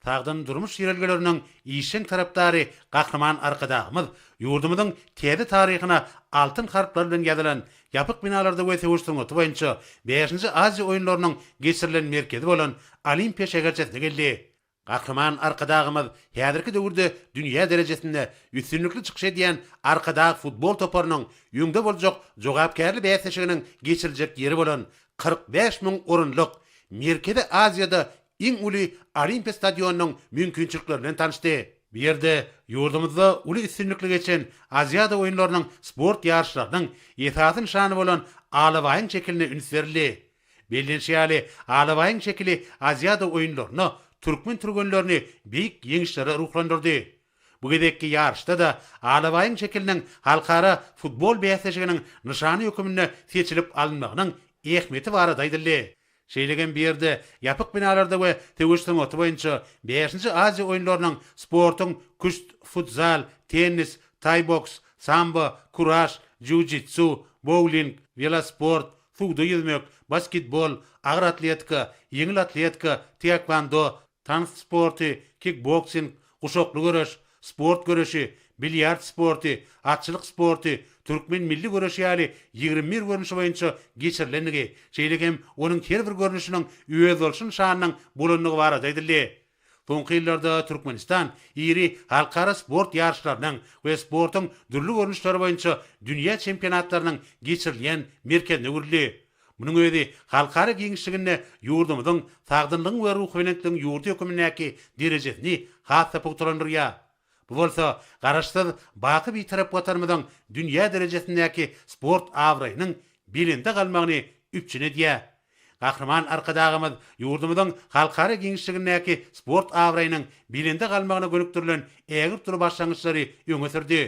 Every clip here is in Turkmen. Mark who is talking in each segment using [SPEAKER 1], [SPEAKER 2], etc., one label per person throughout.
[SPEAKER 1] Sagdyn durmuş ýörelgeleriniň işjeň tarapdary Gahryman Arkadagymyz ýurdumyzyň täze taryhyna altyn harplar bilen ýazylan Ýapyk binalarda we söweş sungaty boýunça bäşinji Aziýa oýunlarynyň geçirilen merkezi bolan Olimpiýa şäherçesine geldi. Gahryman Arkadagymyz häzirki döwürde dünýä derejesinde üstünlikli çykyş edýän Arkadag futbol toparynyň öňde boljak jogapkärli bäsleşiginiň geçiriljek ýeri bolan kyrk bäş müň orunlyk Merkezi Aziýada iň uly Olimpiýa stadionynyň mümkinçilikleri bilen tanyşdy. Bu ýerde ýurdumyzda uly üstünlikli geçen Aziada oýunlarynyň sport ýaryşlarynyň esasy nyşany bolan alabaýyň şekiline üns berildi. Bellenişi ýaly, alabaýyň şekili Aziada oýunlaryna türkmen türgenlerini beýik ýeňişlere ruhlandyrdy. Bu gezekki ýaryşda-da alabaýyň şekiliniň halkara futbol bäsleşiginiň nyşany höküminde seçilip alynmagynyň ähmiýeti barada aýdyldy. Şeýle hem bu ýerde ýapyk binalarda we söweş sungaty boýunça Bäşinji Aziýa oýunlarynyň sportuň küşt, futzal, tennis, taý-boks, sambo, kuraş, jiu-jitsu, bowling, welosport, suwda ýüzmek, basketbol, agyr atletika, ýeňil atletika, taekwondo, tans sporty, kikboksing, guşakly göreş, sport göreşi, bilýard sporty, atçylyk sporty, türkmen milli göreşi ýaly ýigrimi bir görnüşi boýunça geçirilendigi, şeýle hem onuň her bir görnüşiniň özboluşly nyşanynyň bolandygy barada aýdyldy. Soňky ýyllarda Türkmenistan iri halkara sport ýaryşlarynyň we sportuň dürli görnüşleri boýunça dünýä çempionatlarynyň geçirilýän merkezine öwrüldi. Munuň özi halkara giňişliginde ýurdumyzyň sagdynlygyň we ruhubelentligiň ýurdy hökmündäki derejesini has-da pugtalandyrýar. Bu bolsa Garaşsyz, baky Bitarap Watanymyzyň dünýä derejesindäki sport abraýynyň belende galmagyny üpjün edýär. Gahryman Arkadagymyz ýurdumyzyň halkara giňişligindäki sport abraýynyň belende galmagyna gönükdirilen ägirt uly başlangyçlary öňe sürdi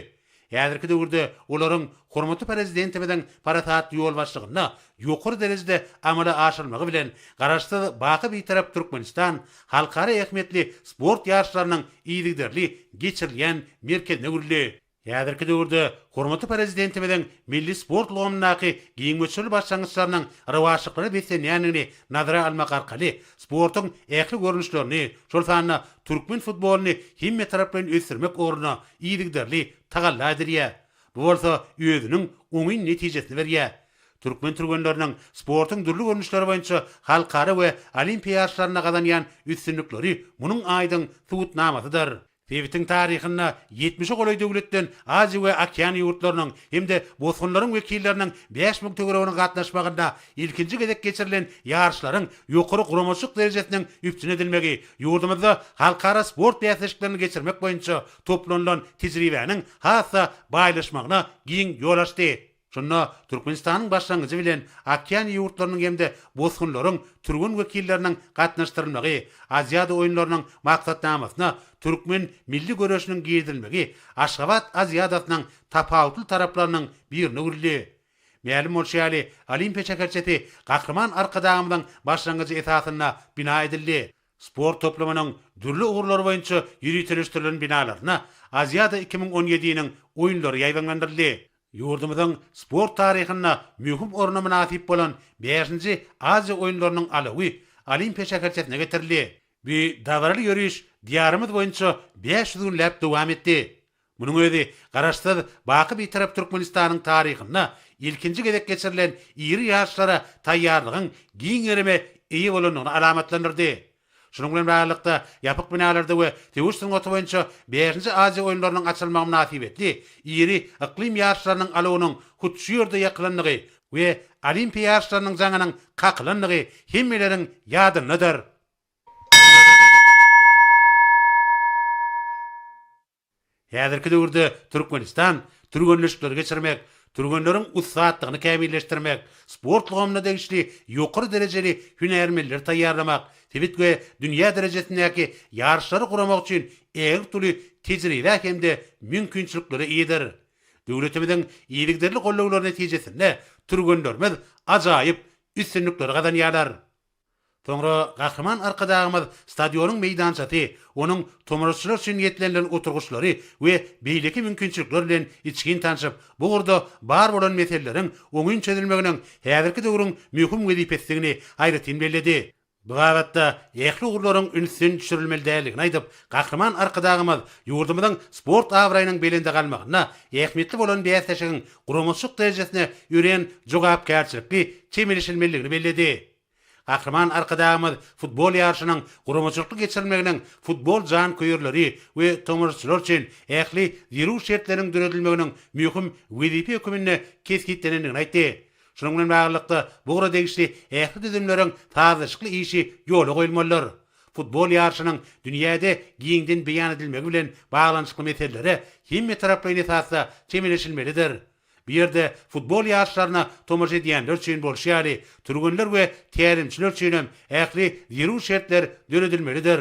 [SPEAKER 1] Häzirki döwürde olaryň hormatly Prezidentimiziň parasatly ýolbaşçylygynda ýokary derejede amala aşyrylmagy bilen, Garaşsyz, baky Bitarap Türkmenistan halkara ähmiýetli sport ýaryşlarynyň yzygiderli geçirilýän merkezine öwrüldi. Häzirki döwürde hormatly Prezidentimiziň milli sport ulgamyndaky giň möçberli başlangyçlarynyň rowaçlyklara beslenýändigini nazara almak arkaly, sportuň ähli görnüşlerini, şol sanda türkmen futbolyny hemmetaraplaýyn ösdürmek ugrunda yzygiderli tagalla edilýär. Bu bolsa özüniň oňyn netijesini berýär. Türkmen türgenleriniň sportuň dürli görnüşleri boýunça halkara we olimpiýa ýaryşlarynda gazanýan üstünlikleri munuň aýdyň subutnamasydyr. Sebitiň taryhynda ýetmişe golaý döwletden Aziýa we Okeaniýa ýurtlarynyň hem-de bosgunlaryň wekilleriniň bäş müň töwereginiň gatnaşmagynda Ilkinji gezek geçirilen ýaryşlaryň ýokary guramaçylyk derejesiniň üpjün edilmegi ýurdumyzda halkara sport bäsleşiklerini geçirmek boýunça toplanylan tejribäniň has-da baýlaşmagyna giň ýol açdy. Şunda Türkmenistanyň başlangyjy bilen Okeaniýa ýurtlarynyň hem-de bosgunlaryň türgen wekilleriniň gatnaşdyrylmagy, Aziada oýunlarynyň maksatnamasyna türkmen milli göreşiniň girizilmegi Aşgabat Aziadasynyň tapawutly taraplarynyň birine öwrüldi. Mälim bolşy ýaly, Olimpiýa şäherçesi Gahryman Arkadagymyzyň başlangyjy esasynda bina edildi. Sport toplumynyň dürli ugurlary boýunça ýöriteleşdirilen binalaryna Aziada iki müň on ýediniň Oýunlary ýaýbaňlandyryldy. Ýurdumyzyň sport taryhynda möhüm orna mynasyp bolan bäşinji Aziýa oýunlarynyň alawy Olimpiýa şäherçesine getirildi. Bu dabaraly ýöriş Diýarymyz boýunça bäş ýüz günläp dowam etdi. Munuň özi Garaşsyz, baky Bitarap Türkmenistanyň taryhynda ilkinji gezek geçirilen iri ýaryşlara taýýarlygyň giň gerime eýe bolandygyny alamatlandyrdy. Şunuň bilen baglylykda, ýapyk binalarda we söweş sungaty boýunça bäşinji Aziýa oýunlarynyň açylmagy mynasybetli iri yklym ýaryşlarynyň alawunyň hut şu ýerde ýakylandygy we Olimpiýa ýaryşlarynyň jaňynyň kakylandygy hemmeleriň ýadyndadyr. Häzirki döwürde Türkmenistan türgenleşikleri geçirmek, türgenleriň ussatlygyny kämilleşdirmek, sport ulgamyna degişli ýokary derejeli hünärmenleri taýýarlamak, sebit we dünýä derejesindäki ýaryşlary guramak üçin ägirt uly tejribä hem-de mümkinçiliklere eýedir. Döwletimiziň yzygiderli gollawlary netijesinde türgenlerimiz ajaýyp üstünlikleri gazanýarlar. Soňra Gahryman Arkadagymyz stadionyň meýdançasy, onuň tomaşaçylar üçin niýetlenilen oturgyçlary we beýleki mümkinçilikler bilen içgin tanşyp, bu ugurda bar bolan meseleleriň oňyn çözülmeginiň häzirki döwrüň möhüm wezipesidigini aýratyn belledi. Bu babatda ähli ugurlaryň ünsden düşürilmelidigini aýdyp, Gahryman Arkadagymyz ýurdumyzyň sport abraýynyň belende galmagynda ähmiýetli bolan bäsleşigiň guramaçylyk derejesine örän jogapkärçilikli çemeleşilmelidigini belledi. Gahryman Arkadagymyz futbol ýaryşynyň guramaçylykly geçirilmeginiň futbol janköýerleri we tomaşaçylar üçin ähli zerur şertleriň döredilmeginiň möhüm wezipe höküminde kesgitlenendigini aýtdy. Şunuň bilen baglylykda, bu ugra degişli ähli düzümleriň sazlaşykly işi ýola goýulmalydyr. Futbol ýaryşynyň dünýäde giňden beýan edilmegi bilen baglanyşykly meselelere hemmetaraplaýyn esasda çemeleşilmelidir. Bu ýerde futbol ýaryşlaryna tomaşa edýänler üçin bolşy ýaly, türgenler we tälimçiler üçin hem ähli zerur şertler döredilmelidir.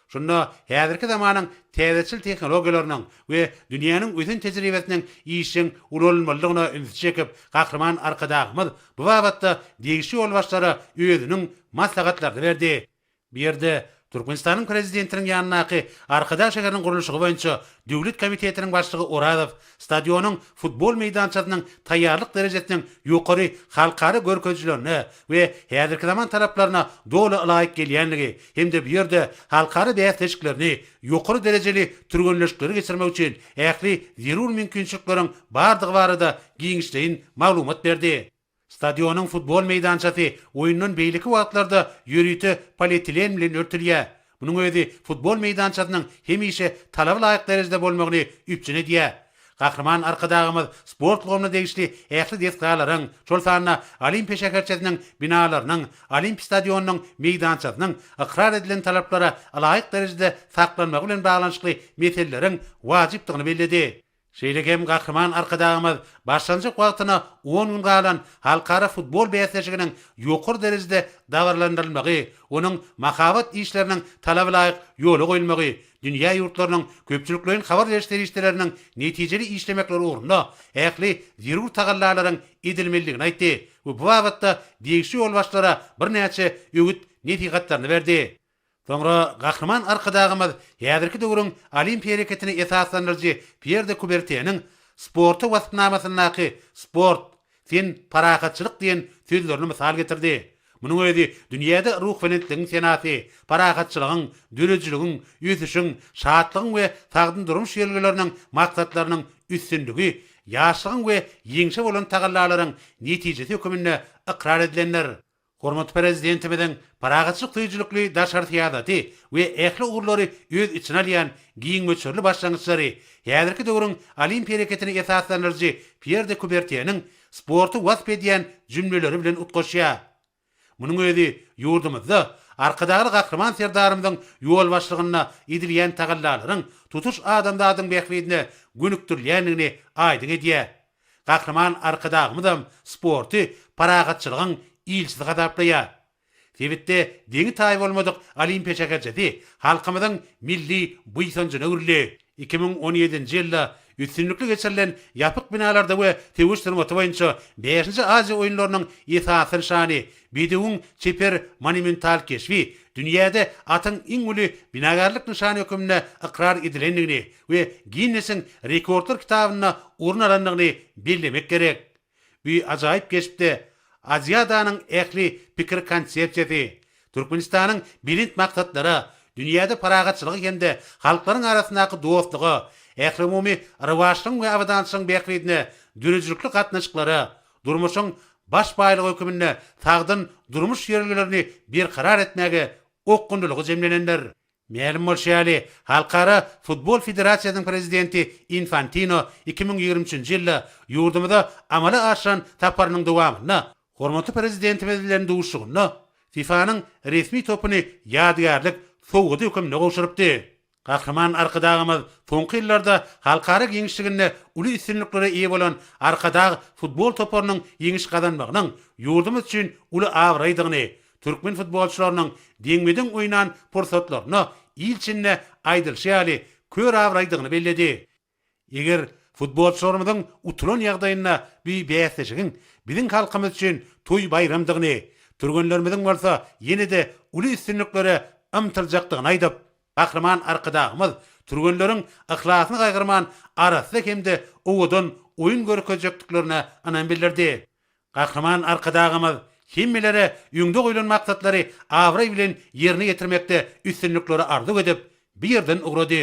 [SPEAKER 1] Şunda häzirki zamanyň täzeçil tehnologiýalarynyň we dünýäniň ösen tejribesiniň işjeň ulanylmalydygyna ünsi çekip, Gahryman Arkadagymyz Bu babatda degişli ýolbaşçylara özüniň maslahatlaryny berdi. Bu ýerde Türkmenistanyň Prezidentiniň ýanyndaky Arkadag şäheriniň gurluşygy boýunça döwlet komitetiniň başlygy Orazow stadionyň futbol meýdançasynyň taýýarlyk derejesiniň ýokary halkara görkezijilerine we häzirki zaman talaplaryna doly ylaýyk gelýänligi hem-de bu ýerde halkara bäsleşiklerini, ýokary derejeli türgenleşikleri geçirmek üçin ähli zerur mümkinçilikleriň bardygy barada giňişleýin maglumat berdi. Stadionyň futbol meýdançasy oýundan beýleki wagtlarda ýörite polietilen bilen örtülýär. Munuň özi futbol meýdançasynyň hemişe talaba laýyk derejede bolmagyny üpjün edýär. Gahryman Arkadagymyz sport ulgamyna degişli ähli desgalaryň, şol sanda Olimpiýa şäherçesiniň binalarynyň Olimpiýa stadionynyň meýdançasynyň ykrar edilen talaplara ylaýyk derejede saklanmagy bilen baglanyşykly meseleleriň wajypdygyny belledi. Şeýle hem Gahryman Arkadagymyz başlanjak wagtyna on gün galan halkara futbol bäsleşiginiň ýokary derejede dabaralandyrylmagy, onuň mahabat işleriniň talabalaýyk ýola goýulmagy, Dünýä ýurtlarynyň köpçülikleýin habar beriş serişdeleriniň netijeli işlemekleri ugrunda ähli zerur tagallalaryň edilmelidigini aýtdy we bu babatda degişli ýolbaşçylara birnäçe öwüt nesihatlaryny berdi. Soňra Gahryman Arkadagymyz häzirki döwrüň Olimpiýa hereketini esaslandyryjy Pýer de Kuberteniň Sporta waspnamasyndaky sport, Sen parahatçylyk diýen sözlerini mysal getirdi. Munuň özi dünýäde ruhbelentligiň senasy, parahatçylygyň, döredijiligiň, ösüşiň, şatlygyň we sagdyn durmuş ýörelgeleriniň maksatlarynyň üstünligi, ýaşlygyň we ýeňşe bolan tagallalaryň netijesi höküminde ykrar edilendir. Hormatly Prezidentimiziň parahatçylyk söýüjilikli daşary syýasaty we ähli ugurlary öz içine alýan giň möçberli başlangyçlary häzirki döwrüň olimpiýa hereketini esaslandyryjy Pýer de Kubertýeniň sporty wasp edýän jümleleri bilen utgaşýar. Munuň özi ýurdumyzda Arkadagly Gahryman Serdarymyzyň ýolbaşçylygynda edilýän tagallalaryň tutuş adamzadyň bähbidine gönükdirilýändigini aýdyň edýär. Gahryman Arkadagymyzam sporty parahatçylygyň ilçisi hasaplaýar. Sebitde deňi-taýy bolmadyk Olimpiýa şäherçesi halkymyzyň milli buýsanjyna öwrüldi. Iki müň on ýedinji ýylda üstünlikli geçirilen ýapyk binalarda we söweş sungaty boýunça bäşinji Aziýa oýunlarynyň esasy nyşany, bedewiň çeper monumental keşbi dünýäde atyň iň uly binagärlik nyşany hökmünde ykrar edilendigini we Ginnesiň rekordlar kitabynda orun alandygyny bellemek gerek. Bu ajaýyp keşpde Aziadanyň ähli pikir-konsepsiýasy, Türkmenistanyň belent maksatlara, dünýäde parahatçylyga hem-de halklaryň arasyndaky dostluga, ählumumy rowaçlygyň we abadançylygyň bähbidine döredijilikli gatnaşyklara, durmuşyň baş baýlygy höküminde sagdyn durmuş ýörelgelerini berkarar etmäge okgunlylygy jemlenendir. Mälim bolşy ýaly, Halkara futbol federasiýasynyň prezidenti Infantino iki müň ýigrimi üçünji ýylda ýurdumyza amala aşyran saparynyň dowamynda hormatly Prezidentimiz bilen duşuşygynda FIFA-nyň resmi topuny ýadygärlik sowgady hökmünde gowşurypdy. Gahryman Arkadagymyz soňky ýyllarda halkara giňişliginde uly üstünliklere eýe bolan Arkadag futbol toparynyň ýeňiş gazanmagynyň ýurdumyz üçin uly abraýdygyny, Türkmen futbolçylarynyň deňme-deň oýnan pursatlaryna il içinde aýdylşy ýaly kör abraýdygyny belledi. Eger futbolçylarymyzyň utulan ýagdaýynda bu bäsleşigiň biziň halkymyz üçin toý-baýramdygyny, türgenlerimiziň bolsa ýene-de uly üstünliklere ymtyljakdygyny aýdyp, Gahryman Arkadagymyz türgenleriň yhlasyny gaýgyrman arassa hem-de owadan oýun görkezjekdiklerine ynam bildirdi. Gahryman Arkadagymyz hemmelere öňde goýlan maksatlary abraý bilen ýerine ýetirmekde üstünlikleri arzuw edip, bu ýerden ugrady.